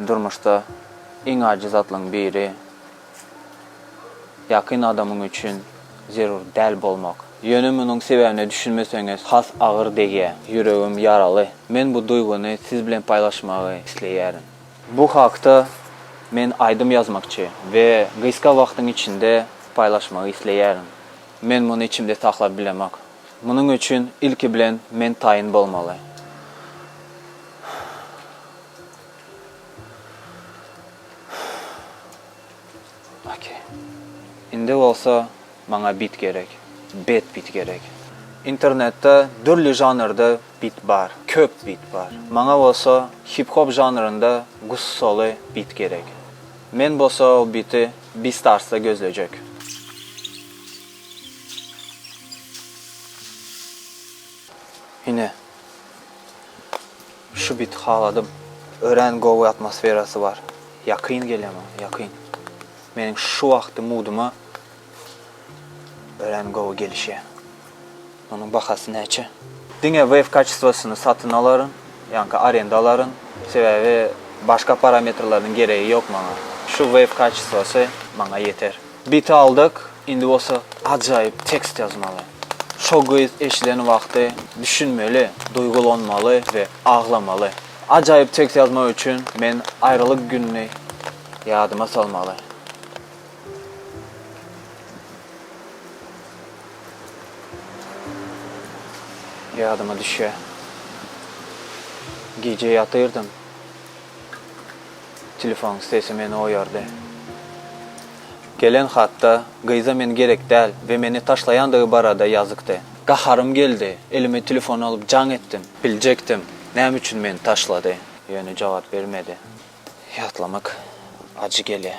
Durmuşda iň ajy zatlaryň biri ýakyn adamyň üçin zerur däl bolmak. Ýöne munuň sebäbine düşünmeseňiz has agyr degýär. Ýüregim ýaraly. Men bu duýgyny siz bilen paýlaşmagy isleýärin. Bu hakda men aýdym ýazmakçy we gysga wagtyň içinde paýlaşmagy isleýärin. Men muny içimde saklap bilemok. Munuň üçin ilki bilen men taýyn bolmaly. Okey. Indi bolsa maňa bit gerek. Bet bit gerek. Internetde dürli žanrda bit bar. Köp bit bar. Maňa bolsa hip-hop žanrynda gussaly bit gerek. Men bolsa ol biti. Beastars-da gözlejek. Ine. Şu biti haladym. Örän gowy atmosferasy bar. Ýakyn gelýär maňa, ýakyn. Meniň şu wagtky muduma Örän gowy gelişýär. Munuň bahasy näçe? Diňe wave kaçestwosyny satyn alaryn, ýaňky arenda alaryn, sebäbi başga parametrleriniň geregi ýok maňa. Şu wave kaçestwosy maňa ýeter. Biti aldyk, indi bolsa ajaýyp tekst ýazmaly. Şo gyz eşiden wagty düşünmeli, duýgulanmaly we aglamaly. Ajaýyp tekst ýazmak üçin men aýralyk gününi ýadyma salmaly. Ýadyma düşýär. Gije ýatyrdym. Telefonyň sesi meni oýardy. Gelen hatda gyza men gerek däl we meni taşlaýandygy barada ýazykdy. Gaharym geldi. Elime telefony alyp jaň etdim. Biljekdim, näme üçin meni taşlady. Ýöne jogap bermedi. Ýatlamak ajy gelýär.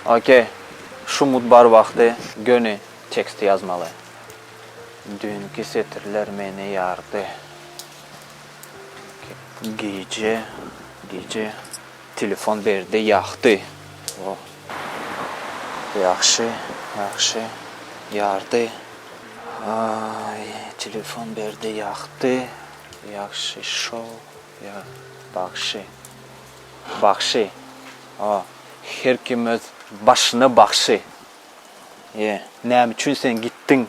Ok. Şu mut bar wagty göni teksti ýazmaly. Düýnki setirler meni ýardy. Gije, gije telefon berde ýahdy. O. Ýagşy, ýagşy ýardy. Aý, telefon berde ýahdy. Ýagşy şo, ýa, bagşy. Bagşy o her kim öz başyna bagşy e. Näme üçin sen gitdiň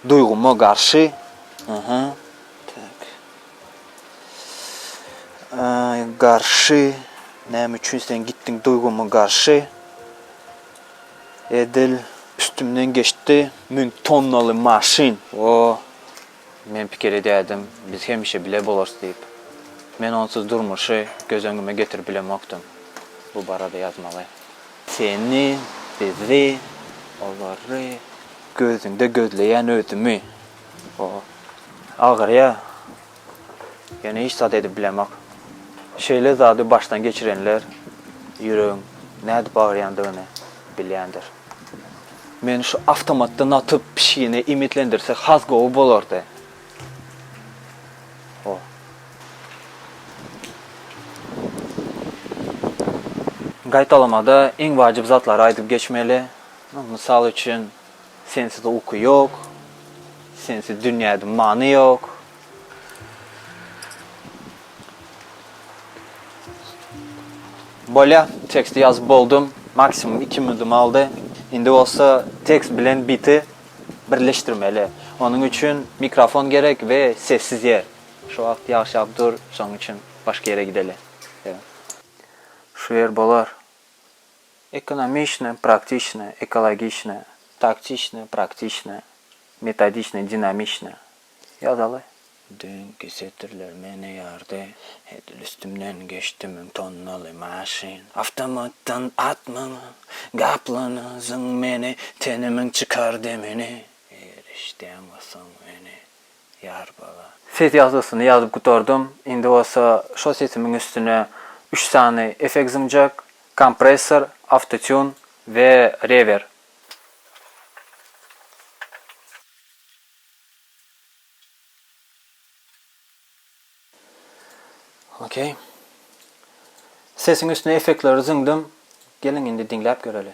duýgyma garşy aha tak aý garşy näme üçin sen gitdiň duýgyma garşy edil üstümden geçdi müň tonnaly maşyn o. Men pikir edýärdim, biz hemişe bile bolarys diýip. Men onsuz durmuşy göz öňüme getirip bilemokdym. Bu barada ýazmaly. Seni, bizi, olary gözüňde gözleýän özümi. O agyrýar. Ýöne hiç zat edip bilemok. Şeýle zady başdan geçirenler ýüregiň nädip agyrýandygyny bilýändir. Men şu awtomatda natyp pişigini iýmitlendirsek has gowy bolardy. O. Gaýtalamada iň wajyp zatlary aýdyp geçmeli. Mysal üçin, Sensiz uky ýok. Sensiz dünýäde many ýok. Bolýa, teksti ýazyp boldum, maksimum iki minudym aldy. Indi bolsa tekst bilen biti birleşdirmeli. Onuň üçin mikrofon gerek we sessiz ýer. Şu wagt ýagyş ýagyp dur, şonuň üçin başga ýere gideli. Şu ýer bolar. Ekonomiçne, praktiçne, ekologiçne, taktiçne, praktiçne, metodiçne, dinamiçne. Ýazaly. Düýnki setirler meni ýardy. Edil üstümden geçdi müň tonnaly maşyn. Awtomatdan atmaňa, gaplanyzyň meni, tenimiň çykar demini. Eger işdäň bolsaň meni, ýar bala. Ses ýazgysyny ýazyp gutardym. Indi bolsa şo sesimiň üstüne üç sany effekt zyňjak, kompressor, awtotune we rewer. Okey. Sesiň üstüne effektleri zyňdym. Geliň indi diňläp göreli.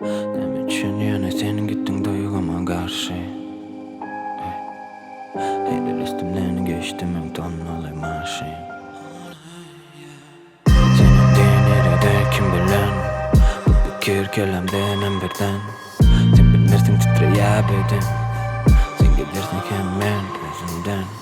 Näme üçin ýöne sen gitdiň duýguma garşy Heleý üstümden geçdi müň tonnaly maşyn Seniň diýen ýere däl kim bilen Bu pikir kelamdenem birden Sen bilmersiň titreýä beden Sen gidersiň hem men özümden